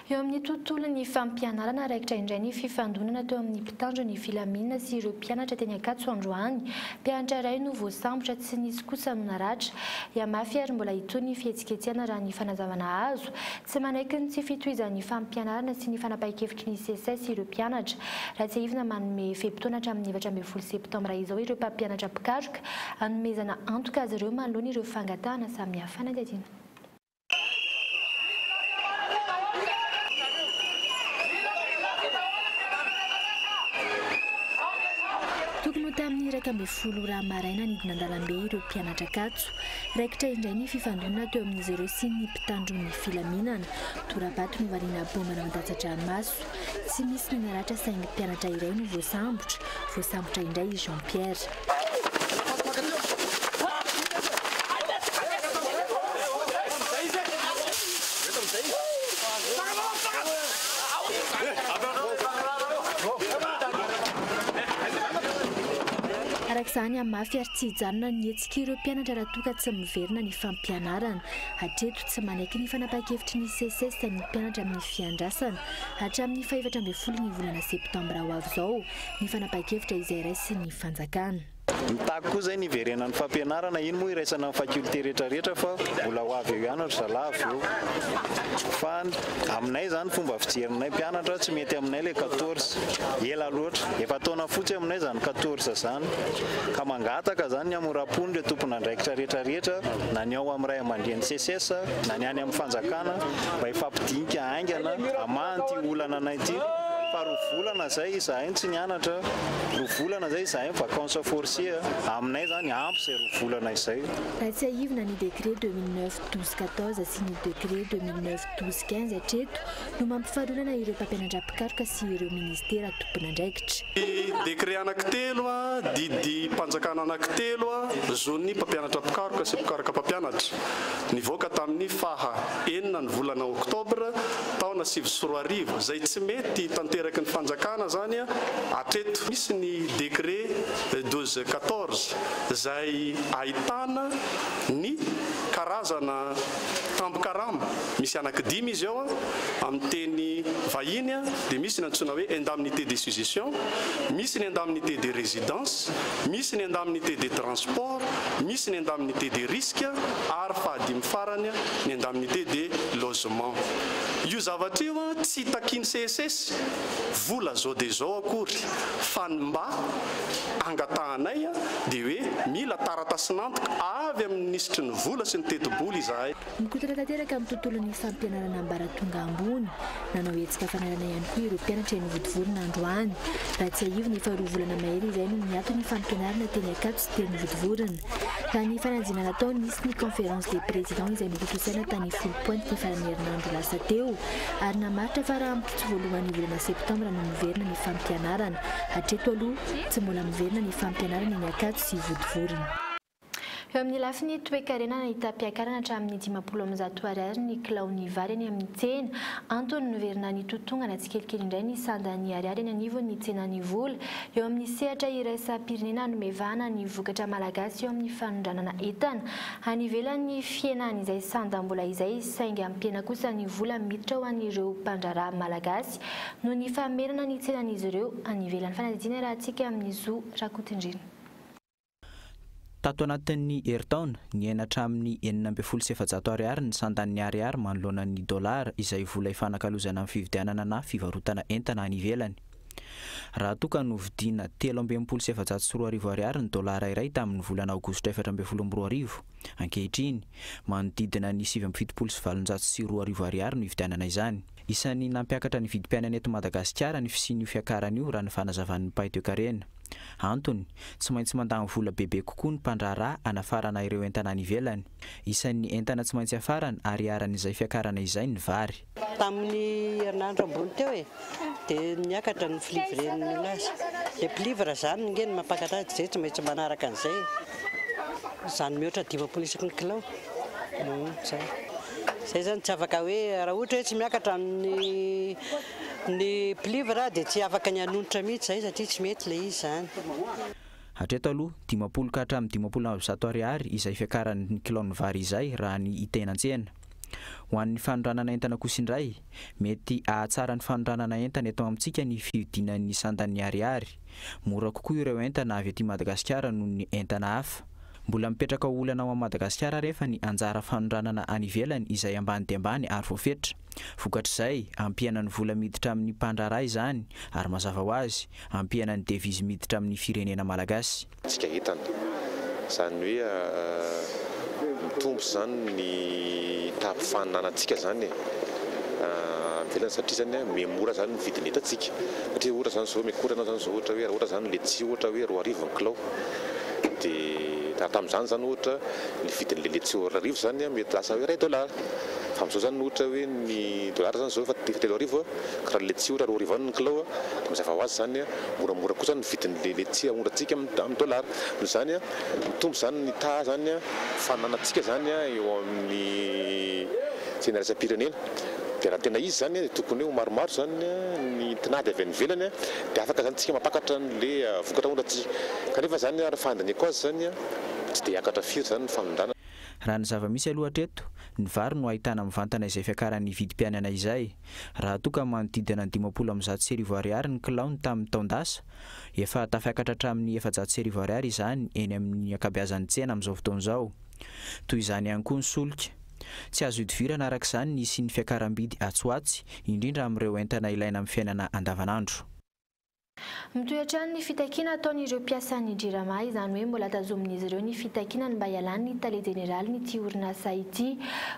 Eo amin'ny tontolon'ny fampianarana, raikitra indray ny fifandonana teo amin'ny mpitandro ny filaminana sy ireo mpianatra teny Ankatso androany. Mpianatra iray no voasambotra, tsy nisy kosa no naratra. Hihamafy ary mbola hitohy ny fihetsiketsehana raha ny fanazavana azo. Tsy manaiky ny tsy fitohizan'ny fampianarana sy ny fanapahan-kevitra ny Seces ireo mpianatra. Raha tsiahivina, manome fe-potoana hatramin'ny efatra ambin'ny folo septambra izao ireo mpampianatra mpikaroka, hanomezana antoka azy ireo manoloana ireo fangatahana samihafa fanadihadiana. Tokony ho tamin'ny iraika ambin'ny folo ora maraina nidina an-dalambe ireo mpianatra Ankatso, Tompo. Raikitra indray ny fifandonana teo amin'izy ireo sy ny mpitandro ny filaminana. Tora-bato novaliana baomba nandatsa-dranomaso. Tsy nisy ny naratra saingy mpianatra iray no voasambotra. Voasambotra indray i Jean Pierre. Tia ireo mpianatra raha toa ka tsy miverina ny fampianarana. Hatreto, tsy manaiky ny fanapahan-kevitry ny Seces ny mpianatra amin'ny fiandrasana. Hatramin'ny fahefatra ambin'ny folo ny volana septambra ho avy izao ny fanapahan-kevitra izay raisin'ny fanjakana. Mitaky koa izay ny hiverenan'ny fampianarana. Iny moa iraisana ny facultés rehetra rehetra fa mbola ho avy eo ihany ry zalahy avy eo. Fa ny. Aminay izany fomba fijerinay mpianatra tsy mety aminay ilay quatorze. Ela loatra. Efa taona fotsy aminay izany quatorze izany. Ka mangataka izany ny hamoram-pony ireo tompon'andraikitra rehetra rehetra na ny ao amin'ny ray aman-dreny Seces na ny any amin'ny fanjakana mba hifampidinika haingana hamaha an'ity olana anay ity fa roa volana izay izahay no tsy nianatra, roa volana izay izahay mi-vacances forcées. Aminay izany ampy izay roa volana izay. Raha tsiahivina ny décret deux mille neuf. douze quatorze sy ny décret deux mille neuf douze quinze hatreto no mampifarinana ireo mpampianadram-pikaroka sy ireo ministera tompon'andraikitra. Ny décret anankitelo, didim-panjakana anankitelo zon'ny mpampianatra mpikaroka sy mpikaroka mpampianatra, nivoaka tamin'ny faha enina ny volana oktobra taona sivy sy roa arivo, izay tsy mety tanteraky ny fanjakana izany hatreto. Misy ny décret douze quatorze izay ahitana. Ny karazana tambin-karama, misy anaky dimy izy eo, amin'ny teny vahiny dia misy ny antsoina hoe indemnité de sujession, misy ny indemnité de résidence, misy ny indemnité de transport, misy ny indemnité de risque ary fahadimy farany ny indemnité de logement. Io zavatra io tsy takian'i CSS vola zao dia zao akory fa ny mba. angatahanay dia hoe mila taratasin'antoka avy amin'ny minisitry ny vola sy ny tetibola izahay. Mikotona tanteraka amin'ny tontolon'ny fampianarana ambaratonga ambony. Nanao hetsika fanarahana ihany koa ireo mpianatra eny Vodivorona androany. Raha tsiahivina, efa roa volana mahery izay no niato ny fampianarana teny Ankatso sy teny Vodivorona. Ka ny fanadinana natao nisy ny conférence des présidents izay notontosaina tany Foulpointe ny faran'ny herinandro lasa teo ary namaritra fa raha Tsy voalohan'ny volana septambra no miverina ny fampianarana. Hatreto aloha, tsy mbola miverina ny fampianarana eny Ankatso sy Vodivorona. Eo amin'ny lafiny toekarena, nahita-piakarana hatramin'ny dimampolo amin'ny zato ariary ny kilaon'ny vary eny amin'ny tsena. Antony, niverina nitotongana tsikelikely indray ny sandan'ny ariary eny anivon'ny tsenan'ny vola. Eo amin'ny sehatra iraisam-pirenena, hanome vahana ny vokatra malagasy eo amin'ny fanondranana entana. Any ivelany fihena an'izay sandam-bola izay saingy ampiana kosa ny vola miditra ho an'ireo mpandraharaha malagasy noho ny famerana ny tsenan'izy ireo any ivelan'ny fanadihadiana rahantsika amin'i Zo Rakotondriana. Tato anatin'ny herintaona, niaina hatramin'ny enina ambin'ny folo sy efajato ariary ny sandan'ny ariary manoloana ny dolara izay vola ifanakalozana amin'ny fividianana na fivarotana entana any ivelany. Raha toa ka novidiana telo amby enimpolo sy efajato sy roa arivo Ariary ny dolara iray tamin'ny volana aogositra efatra ambin'ny folo amby roa arivo, ankehitriny, manodidina ny sivy amby fitopolo sy valonjato sy roa arivo Ariary no ividianana izany. Isan'ny nampiakatra ny vidim-piainana eto Madagasikara ny fisian'io fiakarana io raha ny fanazavan'ny mpahay toekarena. Antony, tsy maintsy mandany vola bebe kokoa ny mpandraharaha hanafarana ireo entana any ivelany. Isan'ny entana tsy maintsy hafarana ary iharan'izay fiakarana izay ny vary. Tamin'ny herinandro ambony teo e, dia niakatra ny flivre-n'ny milaza. Ilay plivre izany ange no mampakatra azy, izay tsy maintsy manaraka an'izay e. Izany mihoatra dimampolo isaky ny kilao. Izay. Izay izany tsy afaka hoe raha ohatra hoe tsy miakatra ny ny plivre aho dia tsy afaka ny hanonitra mihitsy izay satria tsy mety ilay izy izany. Hatreto aloha, dimampolo ka hatramin'ny dimampolo amby zato ariary izay fiakaran'ny kilaon'ny vary izay raha ny hitaina an-tsena. Ho an'ny fanondranana entana kosa indray, mety hahatsara ny fanondranana entana eto amintsika ny fihodinan'ny sandan'ny Ariary. Mora kokoa ireo entana avy aty Madagasikara noho ny entana hafa. Mbola mipetraka ho olana ao Madagasikara ary efa ny anjara fanondranana any ivelany izay ambany dia ambany ary voafetra. Vokatr'izay, ampihana ny vola miditra amin'ny mpandraharaha izany ary mazava ho azy, ampihana ny devizy miditra amin'ny firenena malagasy. tsika entana. Izany hoe mitombo izany ny tahaby faninanantsika izany e, any ivelany satria izany a miha mora izany ny vidin'ny entantsika. Satria ohatra izany izao miakora ianao izany izao ohatra hoe raha ohatra izany letsia ohatra hoe roa arivo ny kilao de raha tamin'izany izany ohatra ny vidin'le letsia roa arivo izany a mety lasa hoe iray dollars fa amin'izao izany ohatra hoe ny dollars izany izao efa telo arivo a ka raha ny letsia ohatra roa arivo ihany ny kilao a de mazava ho azy izany a moramora kosa ny vidin'ny letchia aondrantsika amin'ny dollar noho izany mitombo izany ny taha izany fananantsika izany eo amin'ny tsena iraisam-pirenena dia raha tena izy izany dia tokony hoe ho maromaro izany ny tinady avy any ivelany dia afaka izany tsika mampakatra an'le vokatra aondrantsika kanefa izany ary fandinihako azy izany tsy dia hiakatra firy izany ny fanondranana. Raha ny zava-misy aloha hatreto, ny vary no ahitana mivantana izay fiakaran'ny vidim-piainana izay. Raha toa ka manodidina ny dimampolo amby zato sy arivo ariary ny kilaony tamin'ny taon-dasa, efa tafiakatra hatramin'ny efajato sy arivo ariary izany eny amin'ny ankabeazan'ny tsena amin'izao fotoana izao. Toy izany ihany koa ny solika. Tsy azo ihodivirana araka izany ny hisian'ny fiakaram-bidy atsy ho atsy, indrindra amin'ireo entana ilaina amin'ny fiainana andavanandro. Mitohy hatrany ny fitakiana ataon'ireo mpiasan'ny Jirama, izany hoe mbola tazomin'izy ireo ny fitakiana ny mba hialan'ny tale jeneralin'ity orinasa ity.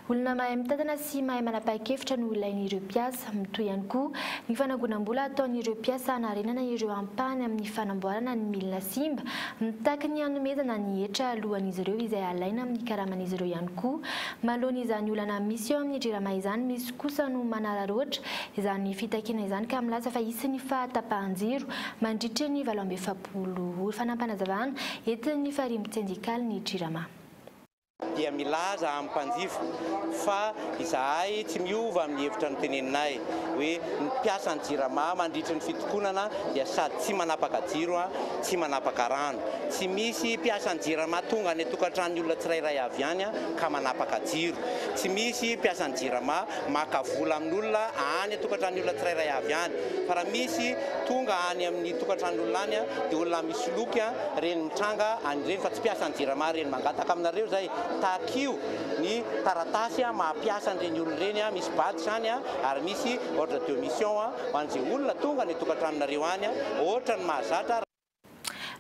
Olona mahay mitantana sy mahay manapa-kevitra no ilain'ireo mpiasa. Mitohy ihany koa ny fanangonam-bola ataon'ireo mpiasa hanarenana ireo ampahany amin'ny fanamboarana ny milina simba. Mitaky ny hanomezana ny hetra alohan'izy ireo izay alaina amin'ny karaman'izy ireo ihany koa. Manoloana izany olana misy eo amin'ny Jirama izany, misy kosa no manararaotra Izany fitakiana izany ka milaza fa hisy ny fahatapahan-jiro mandritry ny valo amby efapolo ora. Fanampin-panazavana entin'ny farimbon tsendikaly ny Jirama. dia milaza amin'ny mpanjifa fa izahay tsy miova amin'ny hevitra noteneninay hoe ny mpiasan'ny Jirama mandritry ny fitokonana dia sady tsy manapaka jiro, tsy manapaka rano. Tsy misy mpiasan'ny Jirama tonga any an-tokantranon'ny olona tsirairay avy any ka manapaka jiro. Tsy misy mpiasan'ny Jirama. maka vola amin'olona any an-tokantranon'ny olona tsirairay avy any. Fa raha misy tonga any amin'ny tokantranon'olona any dia olona misoloky ireny mitranga any ireny fa tsy mpiasan'ny Jirama ireny. Mangataka aminareo izay, takio ny taratasy maha mpiasa an'ireny olona ireny, misy badge izany ary misy ordre de mission ho an'izay olona tonga any an-tokantranonareo any, hoatran'ny mahazatra.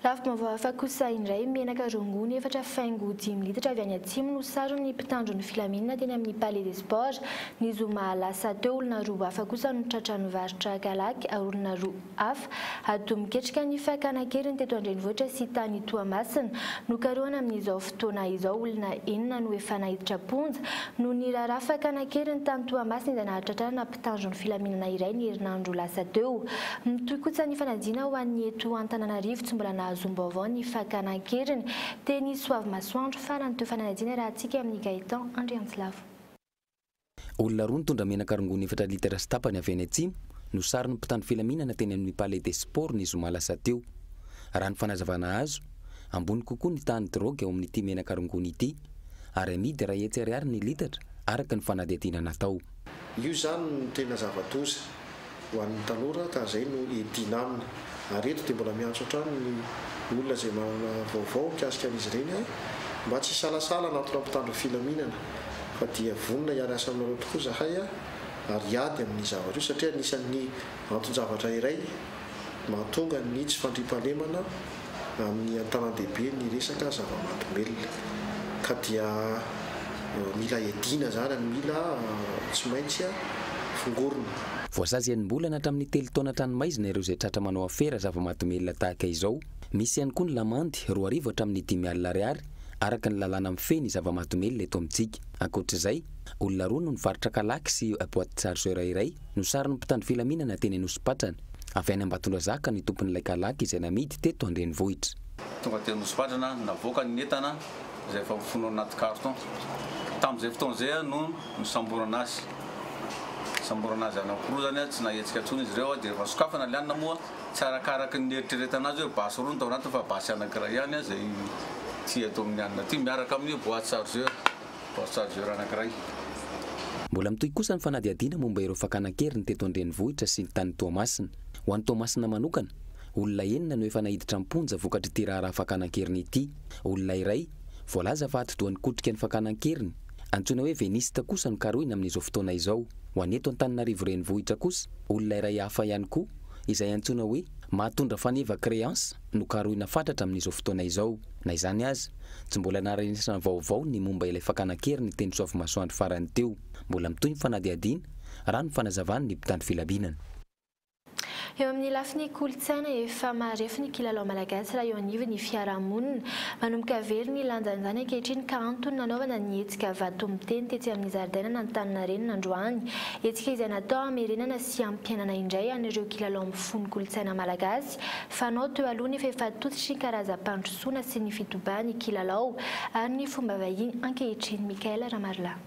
Lafim-baovao hafa kosa indray, menaka rongony efatra faingo dimy litatra avy any Atsimo no saron'ny mpitandro ny filaminana teny amin'ny Palais des Sports, ny zoma lasa teo. Olona roa hafa kosa no tratra nivarotra kalaky ary olona roa hafa ado miketrika ny fakana an-keriny teto an-drenivohitra sy tany Toamasina. Nokarohana amin'izao fotoana izao olona enina no efa naiditra am-ponja noho ny raharaha fakana an-keriny tany Toamasina izay nahatratra tanjon'ny filaminana iray ny herinandro lasa teo. Mitohy kotsa ny fanajina ho an'ny eto Antananarivo, tsy mbola nahazoam-baovao ny fakana an-keriny teny Soavimasoandro fa nantohy fananajina raha hatsiaka amin'i Gaëtan Andriantsilavo. Olona roa nitondra menaka rongony efatra litatra sy tapany avy any atsimo no saron'ny mpitandro filaminana teny amin'ny Palais des Sports ny zoma lasa teo. Raha ny fanazavana azo, ambony kokoa ny tahan'ny drogue ao amin'ity menaka rongony ity ary amidy iray hetsy ariary ny litatra araka ny fanadihadiana natao. Io izany no tena zava-doza ho an'ny tanora ka izay no hiadiana aminy. Ary eto dia mbola miantso hatrany ny olona izay manana vaovao mikasika an'izy ireny aho mba tsy hisalasala hanatona mpitandro filaminana fa dia vonona hiara-hiasa aminareo tokoa izahay ary hiady amin'ny zavatra io satria anisan'ny anton-javatra iray mahatonga ny tsy fandriampahalemana amin'ny an-tanan-dehibe ny resaka zava-mahadomelina ka dia mila hiadiana izany no mila tsy maintsy fongorina. Voasazy enim-bolana hatramin'ny telo taona an-tranomaizina ireo izay tratra manao afera zava-mahadomelina tahaka izao. Misy ihany koa ny lamandy roa arivo hatramin'ny dimy alina ariary araka ny lalàna mifehy ny zava-mahadomelina eto amintsika. Ankoatra izay, olona roa no nivarotra kalaky sy boite chargeur iray, Nosarin'ny mpitandro filaminana teny Anosipatrana, avy any Ambatondrazaka ny tompon'ilay kalaky izay namidy teto an-drenivohitra. Tonga teny Anosipatrana no navoakany ny entana izay efa mifono anaty carton. Tamin'izay fotoana izay no nisamborana azy. Nisamborana azy any amin'ny fokozany, tsy nahetsika intsony izy ireo dia rehefa sokafana ilay anona moa tsy arakaraky ny nieritreretana azy hoe basy roa no tao anatiny fa basy anankiray ihany izay ity eto amin'ny anona ity miaraka amin'ny boite chargeur. Poste chargeur anankiray. Mbola mitohy kosa ny fanadihadiana momba ireo fakana an-keriny teto an-drenivohitra sy ny tany Toamasina. Ho an'i Toamasina manokana, olona enina no efa naiditra am-ponja vokatr'ity raharaha fakana an-keriny ity. Olona iray, voalaza fa atidoha nikotrika ny fakana an-keriny, antsoina hoe Veniste kosa no karohina amin'izao fotoana izao. Ho an'ny eto Antananarivo renivohitra kosa, olona iray hafa ihany koa, izay antsoina hoe Mahatondra Faneva Creance, no karohina fatratra amin'izao fotoana izao. Na izany aza, tsy mbola naharenesana vaovao ny momba ilay fakana an-keriny ny Tenisoavimasoandro farany teo. Mbola mitohy ny fanadihadiana, raha ny fanazavan'ny mpitandro filaminana. Eo amin'ny lafiny kolontsaina, efa marefo ny kilalao malagasy raha eo anivon'ny fiarahamonina. Manomboka very ny lanjan'izany ankehitriny ka antony nanaovana ny hetsika Vato miteny tetsy amin'ny zaridainan'Antaninarenina androany. Hetsika izay natao hamerenana sy hampiainana indray an'ireo kilalao mifono kolontsaina malagasy. Malagasy, fanao teo aloha ny fahefatotsitry ny karazam-pandrosoana sy ny fitobahan'ny kilalao ary ny fomba vahiny ankehitriny, Michaël Ramarilahy.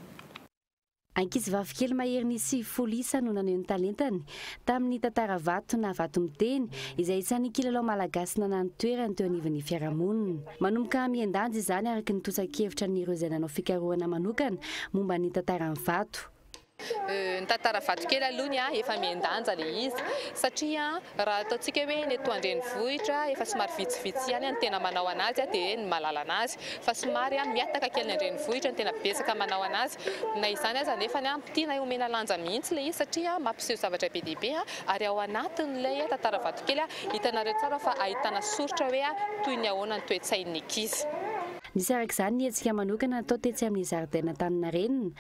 Ankizivavikely maherin'ny sivifolo isa no naneho ny talentany tamin'ny tantara vato na vato miteny, izay isan'ny kilalao malagasy nanà ny toerany teo anivon'ny fiarahamonina. Manomboka mihen-danja izany araka ny totsan-kevitra an'ireo izay nanao fikarohana manokana momba ny tantaran'ny vato. Ny tantara vatokely aloha ny ahy efa mihen-danja ilay izy satria raha ataontsika hoe ny eto an-drenivohitra efa somary vitsivitsy ihany ny tena manao an'azy dia ny mahalala an'azy fa somary mihataka kely ny an-drenivohitra no tena betsaka manao an'azy. Na izany aza anefa tiana homena lanja mihitsy ilay izy satria mampiseho zavatra be dia be ary ao anatin'ilay tantara vatokely hitanareo tsara fa ahitana soritra hoe toy ny ahoana ny toe-tsain'ny ankizy. Nisy araka izany ny hetsika manokana natao tetsy amin'ny zaridain'Antaninarenina,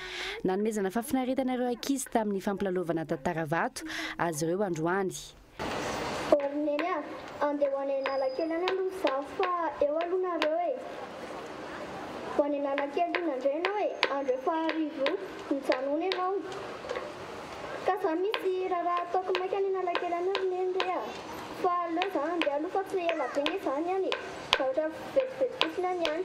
nanomezana fahafinaretana ireo ankizy tamin'ny fampilalaovana tantara vato azy ireo androany. Ô ry Neny a! Andeha ho any Analakely any aloha izaho fa eo aloha nareo e! Ho any Analakely hono indray ianao e! Andro efa harivo mijanona ianao ka izaho misy raharaha ataoko maika any Analakely any ry Neny re a! Fa aleo izaho handeha aloha fa tsy ela be ange izaho ny any e! Tahotra mivezivezy fotsina ny any.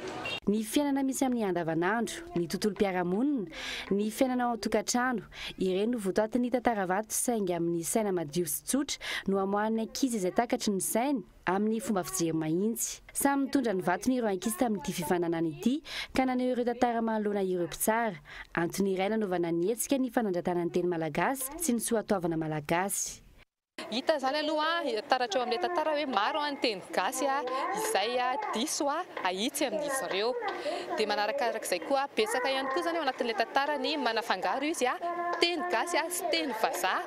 Ny fiainana misy amin'ny andavanandro, ny tontolom-piarahamonina, ny fiainana ao an-tokantrano, ireny no votoatin'ny tantara vato saingy amin'ny saina madio sy tsotra no amoahan'ny ankizy izay takatry ny sainy amin'ny fomba fijery mahitsy. Samy nitondra ny vatony ireo ankizy tamin'ity fifaninanana ity ka naneho ireo tantara manoloana ireo mpitsara. Antony iray nanaovana ny hetsika ny fanandratana ny teny malagasy sy ny soatoavina malagasy. Hita izany aloha taratra eo amin'ilay tantara hoe maro ny teny gasy izay diso ahitsy amin'izy ireo. Dia manarakarak'izay koa betsaka ihany koa izany ao anatin'ilay tantara ny manafangaro izy teny gasy sy teny vazaha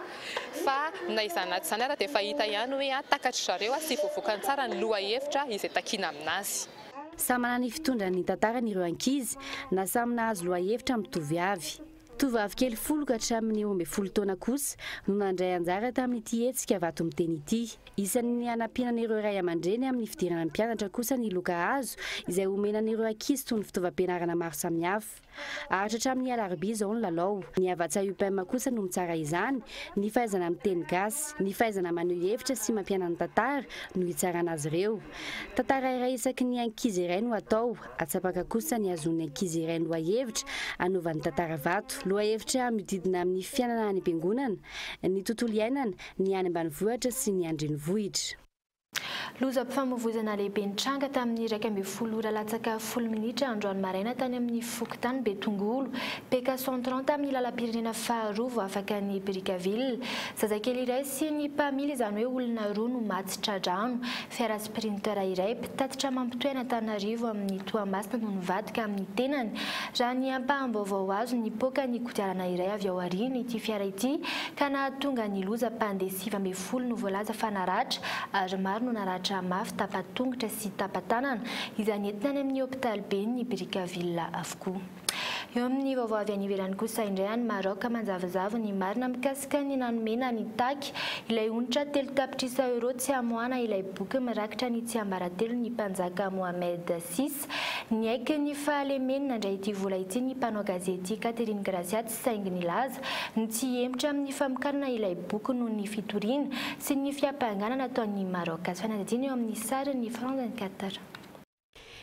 fa na izany na tsy izany ary dia efa hita ihany hoe takatr'i zareo sy voavokany tsara ny lohahevitra izay takiana aminazy. Samy manana ny fitondrany ny tantarany ireo ankizy na samy nahazo lohahevitra mitovy avy. Tovovavy kely folo ka hatramin'ny roa ambin'ny folo taona kosa no nandray anjara tamin'ity hetsika vato miteny ity. Isan'ny hanampiana an'ireo ray aman-dreny amin'ny fidirana mpianatra kosa ny loka hazo izay omena an'ireo ankizy toy ny fitaovam-pianarana maro samihafa. Haharitra hatramin'ny alarobia izao ny lalao. Ny Havatsa Upem kosa no mitsara izany, ny fahaizana miteny gasy, ny fahaizana maneho hevitra sy mampianany tantara no hitsarana azy ireo. Tantara iray isaky ny ankizy iray no hatao Atsapaka kosa ny azon'ny ankizy iray lohahevitra anaovany tantara vato. Lohahevitra miodidina amin'ny fiainana any am-piangonana, ny tontolo iainana, ny any ambanivohitra sy ny an-drenivohitra. Lozam-pifamoivoizana lehibe nitranga tamin'ny iraika ambin'ny folo ora latsaka folo minitra androany maraina tany amin'ny fokontany Betongolo, Peka Centran tamin'ny lalam-pirenena faharoa vao afaka ny Brickaville. Zazakely iray sy ny mpamily izany hoe olona roa no maty tra-drano. Printer iray mpitatitra mampitohy an'Antananarivo amin'i Toamasina no nivadika amin'ny tenany. Raha ny ampaham-baovao azo, nipoaka ny kodiarana iray avy ao aorian' ity fiara ity ka nahatonga ny loza. Mpandeha sivy ambin'ny folo no voalaza fa naratra ary maro no naratra mafy tapa-tongotra sy tapa-tanana, izay nentina any amin'ny hopitaliben'ny Brickaville avokoa. Eo amin'ny vaovao avy any ivelany kosa indray any Maroc, manjavozavo ny marina mikasika ny nanomena an'i Taki ilay onitra telo tapitrisa euros tsy hamoahana ilay boky mirakitra ny tsiambaratelon'ny mpanjaka Mohamed vi. Niaiky ny fahalemeny nandray ity vola ity ny mpanao gazety Catherine Gracia tsy saingy nilaza ny tsy hihemotra amin'ny famokarana ilay boky noho ny fitoriana sy ny fiampangana nataon'i Maroc. Azo fanadihadiana eo amin'ny sarin'ny France 24.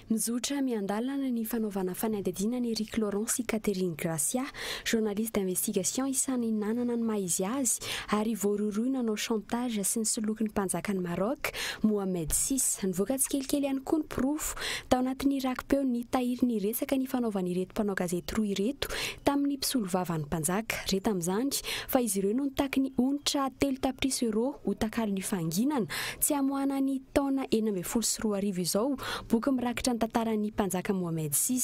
Mizotra miandalana ny fanaovana fanadihadiana an'i Eric Laurent sy Catherine Gracia, journaliste d'investigation isan'ny nanana ny maha izy azy ary voarohirohy nanao chantage sy nisoloky ny mpanjakan'i Maroc, Mohammed vi. Nivoaka tsikelikely ihany koa ny porofo tao anatin'ny raki-peo nitahiry ny resaka nifanaovan'ireto mpanao gazety roa ireto tamin'ny mpisolovavan'ny mpanjaka. Re tamin'izany fa izy ireo no nitaky ny onitra telo tapitrisa euros ho takalon'ny fahanginana Tsy hamoahana ny taona enina ambin'ny folo sy roa arivo izao boky mirakitra ny tantaran'ny mpanjaka Mohammed vi.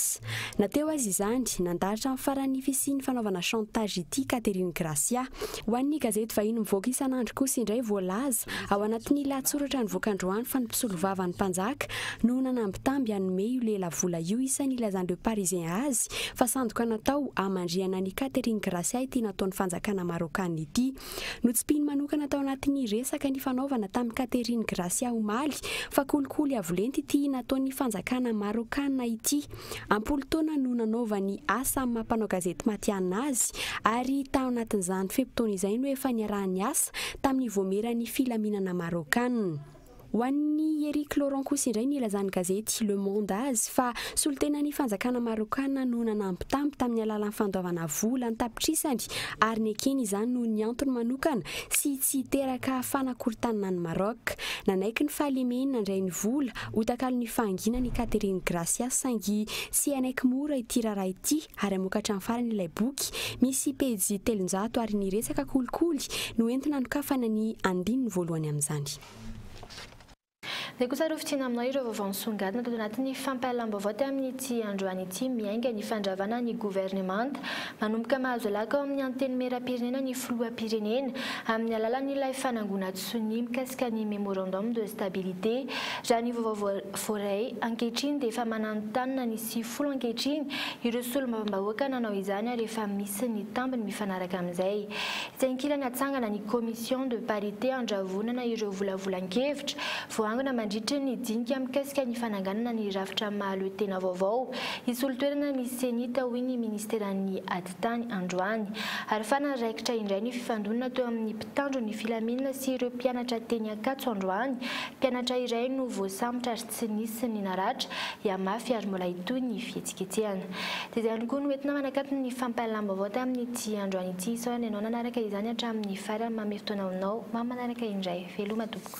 Na teo aza izany, nandarotra amin'ny farany ny fisian'ny fanaovana chantage ity Catherine Gracia. Ho an'ny gazety vahiny mivoaka isan'andro kosa indray voalaza ao anatin'ny lahatsoratra nivoaka androany fa ny mpisolovavan'ny mpanjaka no nanambitamby hanome io lehilahy-vola io isa nilazan'ny Le Parisien azy fa sandoka natao hamandrihana an'i Catherine Gracia ity nataon'ny fanjakana Marôkana ity. Notsipihiny manokana tao anatin'ny resaka nifanaovana tamin'i Catherine Gracia omaly fa kolikoly avo lenta ity nataon'ny fanjakana Marôkana ity. Am-polo taona no nanaovany asa amin'ny maha mpanao gazety matihanina azy ary tao anatin'izany fe-potoana izay no efa niaraha-niasa tamin'ny voamieran'ny filaminana Marôkana. Ho an'i Eric Laurent kosa indray ny ilazan'ny gazety Le Monde azy fa solontenan'ny fanjakana Marôkana no nanampy tampo tamin'ny alalan'ny fandoavana vola an-tapitrisany ary nekeny izany noho ny antony manokana sy tsy hiteraka fanakorontanana an'i Maroc. Nanaiky ny fahalemeny nandray ny vola ho takalon'ny fahanginany i Catherine Gracia saingy tsy hanaiky mora ity raharaha ity ary hamoaka hatramin'ny farany ilay boky, misy pejy telonjato ary ny resaka kolikoly no entina anokafana ny andininy voalohany amin'izany. Izay kosa ary ho fidina aminao ireo vaovao nisongadina tato anatin'ny fampahalam-baovao tamin'ity androany ity miainga ny fandravana ny governemanta. Manomboka mahazo laka ao amin'ny Antenimierampirenena ny Filohampirenena amin'ny alalan'ilay fanangonan-tsonia mikasika ny Memorandum de Stabilité raha ny vaovao voaray ankehitriny dia efa mananontanona ny sy folo ankehitriny ireo solombavambahoaka nanao izany ary efa misy ny tambiny mifanaraka amin'izay. Etsy ankilany hatsangana ny commission de parité handravonana ireo volavolan-kevitra voaangona mandritry ny dinika mikasika ny fananganana ny rafitra mahaloetena vaovao hisolo toerana ny Cenit hoy ny ministeran'ny Atitany androany ary fana raikitra indray ny fifandonana teo amin'ny mpitandro ny filaminana sy ireo mpianatra teny Ankatso androany mpianatra iray no voasambotra ary tsy nisy ny naratra, hihamafy ary mbola hitohy ny fihetsiketsehana. Dia izay ihany koa no entina manakatona ny fampahalalam-baovao tamin'ity androany ity. Sao ary ny anao nanaraka izany hatramin'ny farany manome fotoana ho nao mba manaraka indray. Veloma tompoko.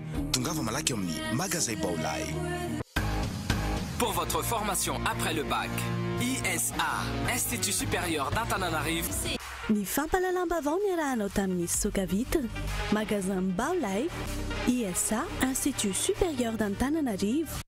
Tongava malaky ao amin'ny Magazay Baolai. Pour votre formation après le bac, ISA, Institut Supérieur d'Antananarivo, Ny fampahalalam-baovao niarahanao tamin'ny Fisoka Vitre, Magasin Baolai, ISA, Institut Supérieur d'Antananarivo.